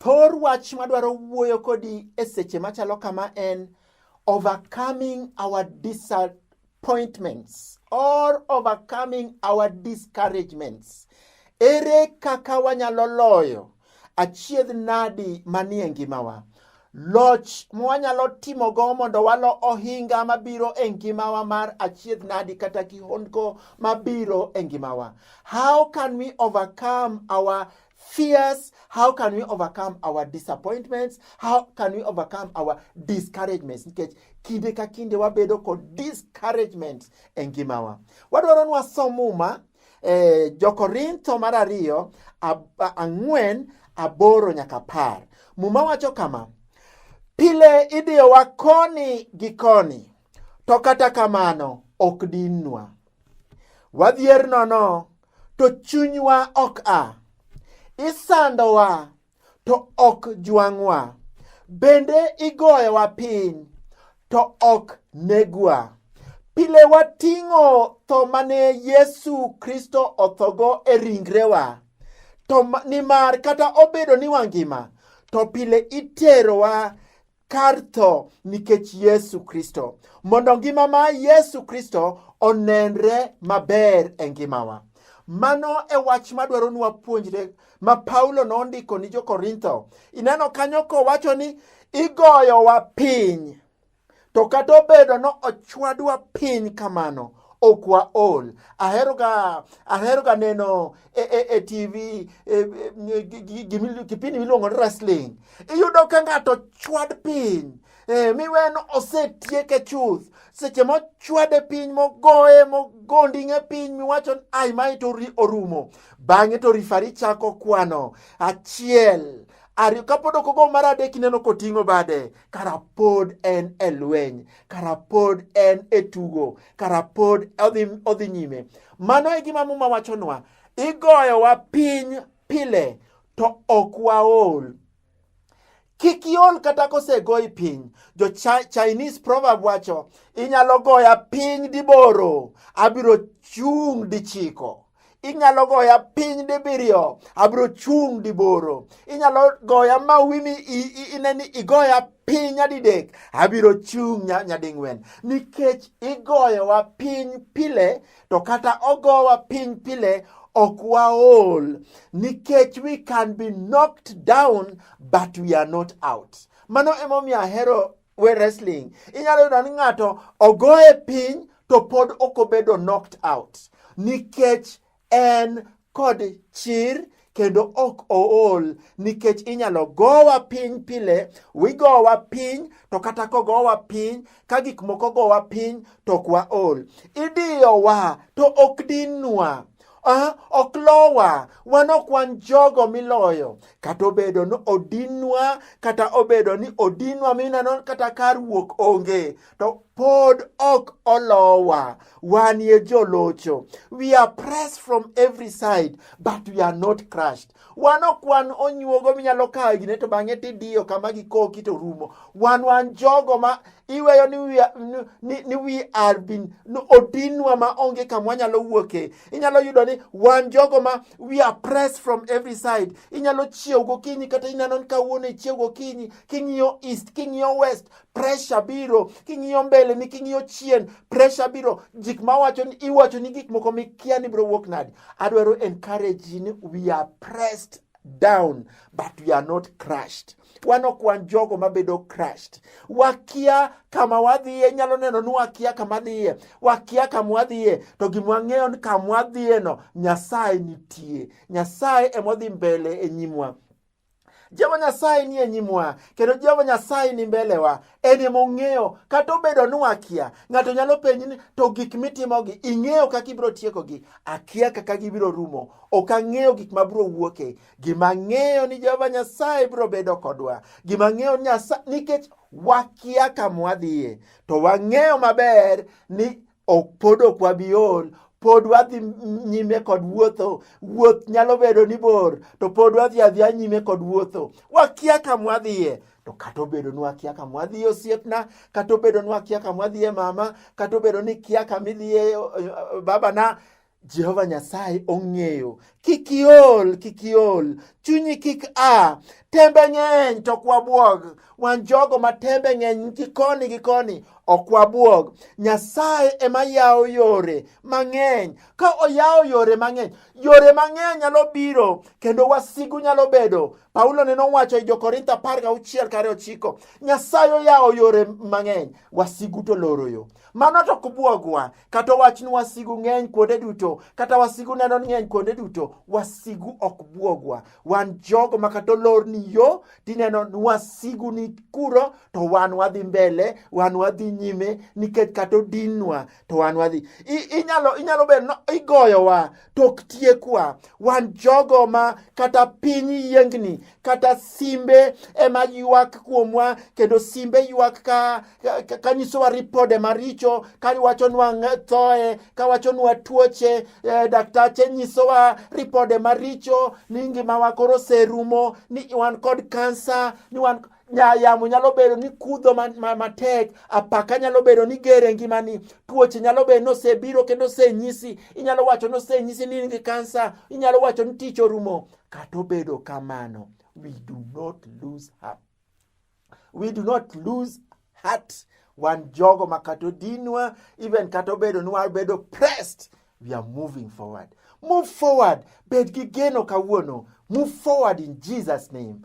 Thor wach madwaro wuoyo kodi e seche machalo kama en overcoming our disappointments or overcoming our discouragements. Ere kaka wanyalo loyo achiedh nadi manie ngimawa? Loch mwanyalo timogo mondo walo ohinga mabiro e ngimawa mar achiedh nadi kata kihondko mabiro e ngimawa. How can we overcome our fears? How can we overcome our disappointments? How can we overcome our discouragements? Nikech kinde ka kinde wabedo kod discouragement e ngimawa. Wadwaro ni wasom Muma e Jokorintho mar ariyo ang'wen aboro nyaka par. Muma wacho kama, pile idiyowa koni gi koni, to kata kamano ok dinnwa. Wadhier nono to chunywa ok a. Isandowa, to ok jwang'wa. Bende igoyowa piny, to ok negwa. Pile wating'o tho mane Yesu Kristo othogo e ringrewa, to nimar kata obedo ni wangima, to pile iterowa kar tho nikech Yesu Kristo, mondo ngima ma Yesu Kristo onenre maber e ngimawa. Mano e wach madwaro ni wapuonjre ma Paulo nondiko ni jo-Korintho. Ineno kanyo kowacho ni igoyowa piny, to kata obedo no ochwadwa piny kamano, ok waol aheroga aheroga neno e, e, e tv e, e, kipindi miluongo ni wrestling iyudo ka ng'ato chwad piny e, miwen osetieke chuth seche mochwade piny mogoye mogonding'e piny miwacho ai mae to orumo bang'e to rifari chako kwano achiel ariyo kapod ok ogo mar adek ineno koting'o bade kara pod en e lweny kara pod en e tugo kara pod odhi, odhi nyime mano e gima muma wachonwa igoyowa piny pile to ok waol kik iol kata kosegoyi piny jo chinese proverb wacho inyalo goya piny diboro abiro chung' dichiko inyalo goya piny dibiriyo abiro chung' diboro inyalo goya ma wimi ine ni igoya piny nyadidek abiro chung' nyading'wen nikech igoyowa piny pile to kata ogowa piny pile ok waol nikech we can be knocked down but we are not out mano emomiyo ahero we wrestling inyalo yudo ni ng'ato ogoye piny to pod ok obedo knocked out nikech en kod chir kendo ok ool nikech inyalo gowa piny pile wigowa piny to kata kogowa piny ka gik moko gowa piny to ok waol idiyowa to ok dinwa Ah, ok lowa, wan ok wan jogo miloyo. Kata obedo ni odinwa, kata obedo ni odinwa mineno kata kar wuok onge, to pod ok olowa. Wan ye jolocho. We are pressed from every side, but we are not crushed. Wan ok wan onyuogo minyalo kawo gine to bang'e tidiyo kama gikoki to rumo. Wan wan jogo ma iweyo ni we are, ni, ni we are been no, odinwa ma onge kamwa nyalo wuoke inyalo yudo ni wan jogo ma we are pressed from every side inyalo chiew gokinyi kata ineno ni kawuono ichiew gokinyi king'iyo east king'iyo west pressure biro king'iyo mbele ni king'iyo chien pressure biro jik ma wacho ni iwacho ni gik moko mikia ni biro wuok nadi adwaro encourage ni we are pressed down but we are not crushed wan ok wan jogo mabedo crushed. Wakia kama wadhiye, nyalo neno ni wakia kama dhiye, wakia kama wadhiye, to gima wang'eyo ni kama wadhiyeno Nyasaye nitie. Nyasaye emodhi mbele e nyimwa. Jehova Nyasaye nie nyimwa kendo Jehova Nyasaye ni mbelewa, en ema ong'eyo. Kata obedo ni wakia, ng'ato nyalo penji ni to gik mitimogi ing'eyo kaka ibiro tiekogi? Akia kaka gibiro rumo, ok ang'eyo gik mabiro wuoke. Gima ng'eyo ni Jehova Nyasaye biro bedo kodwa. Gima ng'eyo ni Nyasaye nikech wakia kama wadhiye to wang'eyo maber ni ok pod ok wabi ol pod wadhi nyime kod wuotho wuoth nyalo bedo ni bor to pod wadhi adhiya nyime kod wuotho wakia kama wadhiye to kata obedo ni wakia kama wadhiye osiepna kata obedo ni wakia kama wadhiye mama kata obedo ni kia kama idhiye eh, babana Jehova Nyasaye ong'eyo. Kik iol, kik iol, chunyi kik a. Tembe ng'eny to ok wabwog. Wan jogo ma tembe ng'eny gi koni gi koni ok wabwog. Nyasaye ema yawo yore mang'eny. Ka oyawo yore mang'eny, yore mang'eny nyalo biro kendo wasigu nyalo bedo. Paulo ne nowacho e Jokorintho apar gauchiel kare ochiko, Nyasaye oyawo yore mang'eny, wasigu to loro yo. Mano to ok bwogwa. Kata wach ni wasigu ng'eny kuonde duto, kata wasigu neno ni ng'eny kuonde duto, wasigu ok buogwa. Wan jogo ma kata olor ni yo, tineno ni wasigu ni kuro, to wan wadhi mbele, wan wadhi nyime, nikech kata odinwa, to wan wadhi. Inyalo, inyalo bedo ni igoyowa, tok tiekwa wan jogo ma kata piny yiengni kata simbe ema ywak kuomwa kendo simbe ywak ka, ka, ka nyisowa ripode maricho ka wachonwa thoe ka wachonwa tuoche eh, daktache nyisowa ripode maricho ni ngimawa koro serumo ni wan kod kansa ni wan yamo nyalo bedo ni kudho matek, apaka nyalo bedo ni ger e ngimani, tuoche nyalo bedo ni osebiro kendo osenyisi, inyalo wacho ni osenyisi ni in gi kansa, inyalo wacho ni tich orumo. Kata obedo kamano, we do not lose heart. We do not lose heart. Wan jogo ma kata odinwa, even kata obedo ni wabedo pressed, we are moving forward. Move forward. Bed gi geno kawuono. Move forward in Jesus name.